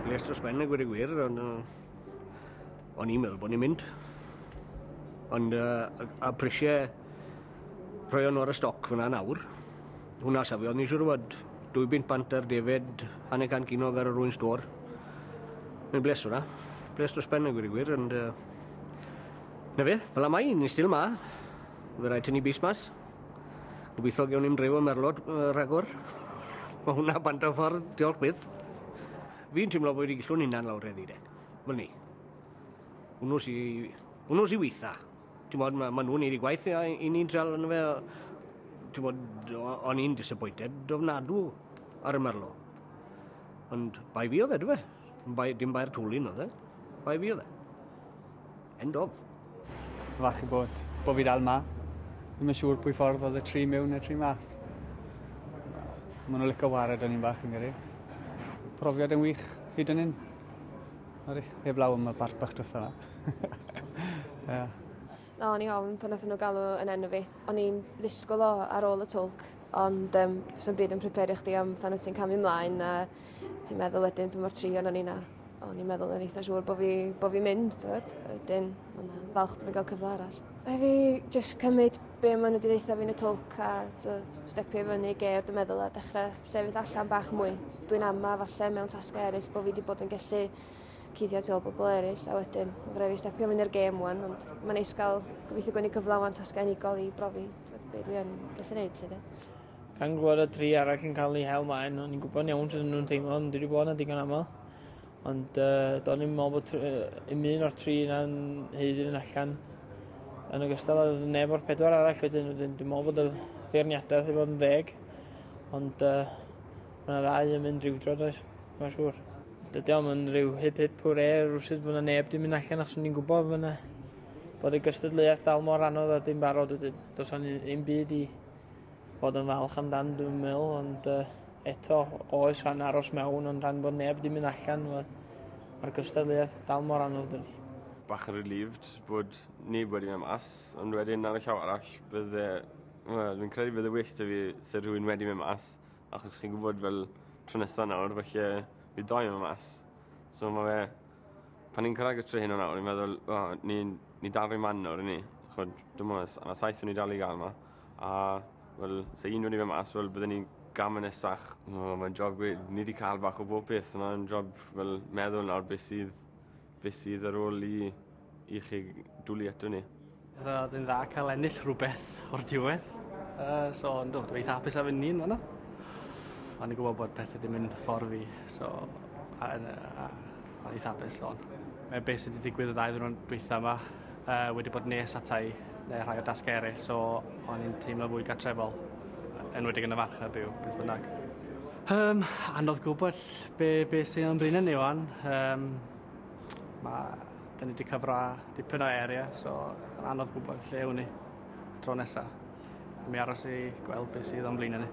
Gles dros ben y gwir y gwir, ond uh, o'n i'n meddwl bod ni'n mynd. Ond uh, a prisiau rhoi o'n o'r y stoc fyna nawr, hwnna safio, o'n i'n siŵr fod dwy bint bant ar defed hanner can cinog ar yr un stor. Mae'n bles hwnna. Bles dros ben y gwir y gwir, ond uh, na fe, fel am ai, ni'n stil ma. Fe rhaid tynnu bus mas. Gobeithio gewn ni'n dreifo merlod uh, rhagor. Mae hwnna bant o ffordd, diolch byth. Fi'n teimlo bod wedi gillw'n hunan lawr eddi de. Fel ni. Hwnnw si... Hwnnw si weitha. Ti'n bod, mae ma nhw'n ei gwaith i, i ni'n treol yn fe. Ti'n bod, o'n i'n disappointed dofnadw ar y merlo. Ond bai fi oedd e, dwi fe. Bai, dim bai'r tŵlin oedd e. Bai fi oedd e. End of. Falch i bod, bod fi dal ma. Ddim yn siŵr pwy ffordd oedd y tri mewn neu'r tri mas. Mae nhw'n licio wario dyn ni'n bach yn gyrru. Profiad yn wych hyd yn hyn. Ori, heb law am y bart bach dwetha yma. yeah. No, o'n i ofn pan oedden nhw galw yn enw fi. O'n i'n ddisgwyl o ar ôl y twlc, ond um, sy'n byd yn prepario chdi am pan wyt ti'n camu ymlaen a ti'n meddwl wedyn pa mor trion o'n i na. O'n i'n meddwl yn eitha siŵr bod fi, bo fi mynd, tywed. Wedyn, o'n falch bod fi'n cael cyfle arall. Rhaid fi just cymryd be maen nhw wedi ddeitha fi'n y twlc a to, stepio i fyny ger dwi'n meddwl a dechrau sefyll allan bach mwy. Dwi'n ama falle mewn tasgau eraill bod fi wedi bod yn gallu cuddio tu ôl bobl eraill a wedyn mae'n rhaid fi stepio fyny'r gêm wan ond mae'n neis gael gobeithio gwneud cyflawn tasgau unigol i brofi be dwi yn gallu gwneud lle de. Gan gweld y tri arall yn cael eu hel maen, o'n i'n gwybod iawn sut o'n nhw'n teimlo, ond dwi wedi bod yna digon aml. Ond uh, do'n i'n meddwl bod un un o'r tri yna'n hyd yn allan. Yn ogystal â neb o'r pedwar arall wedyn, wedyn dwi'n meddwl bod y feirniadaeth i fod yn ddeg. Ond uh, mae yna ddau yn mynd rhywdro, does? Mae'n siŵr. Dydy o'm yn rhyw hip hip hwre rhywsyd bod yna neb dwi'n mynd allan achos o'n i'n gwybod bod yna bod y gystadleuaeth dal mor anodd a dim barod wedyn. Does o'n un byd i bod yn falch amdan 2000 ond uh, eto oes rhan aros mewn ond rhan bod neb ddim yn allan mae'r gystadleuaeth dal mor anodd dyn ni. Bach yn relieved bod neb wedi mynd mas ond wedyn ar y llaw arall bydde well, fi'n credu bydde well da fi sy'n rhywun wedi mynd mas achos chi'n gwybod fel tro nesaf nawr felly bydd doi mynd mas so mae fe pan ni'n cyrraedd y tri hyn o nawr ni'n meddwl oh, ni'n ni dal rhy man nawr i ni chod dim ond yna saith o'n ni dal i gael yma a wel sa un wedi myn' mas wel bydden i'n gam yn nesach. O mae'n job gwe- ni 'di ca'l bach o bob peth a mae'n job fel meddwl nawr be' sydd be' sydd ar ôl i i chi dwli ato ni. Fydda fe'n dda ca'l ennill rhwbeth o'r diwedd. Yy so yndw dwi eitha hapus â fy Nin fan 'na. O'n i'n gwbo bod pethe 'di mynd ffordd fi so a yn yy a Oedd eitha apus o'n. Mae beth sydd wedi digwydd y ddau ddwrnod dwytha yma uh, wedi bod nes atai neu rhai o dasgau eraill, so o'n i'n teimlo fwy gatrefol, enwedig yn y farch na byw, beth bynnag. Um, anodd gwybod be, be sy'n o'n brin yn ei wan. Um, mae, da ni wedi cyfra dipyn o area, so anodd gwybod lle hwn i tro nesaf. Mi aros i gweld beth sydd o'n brin yn ei.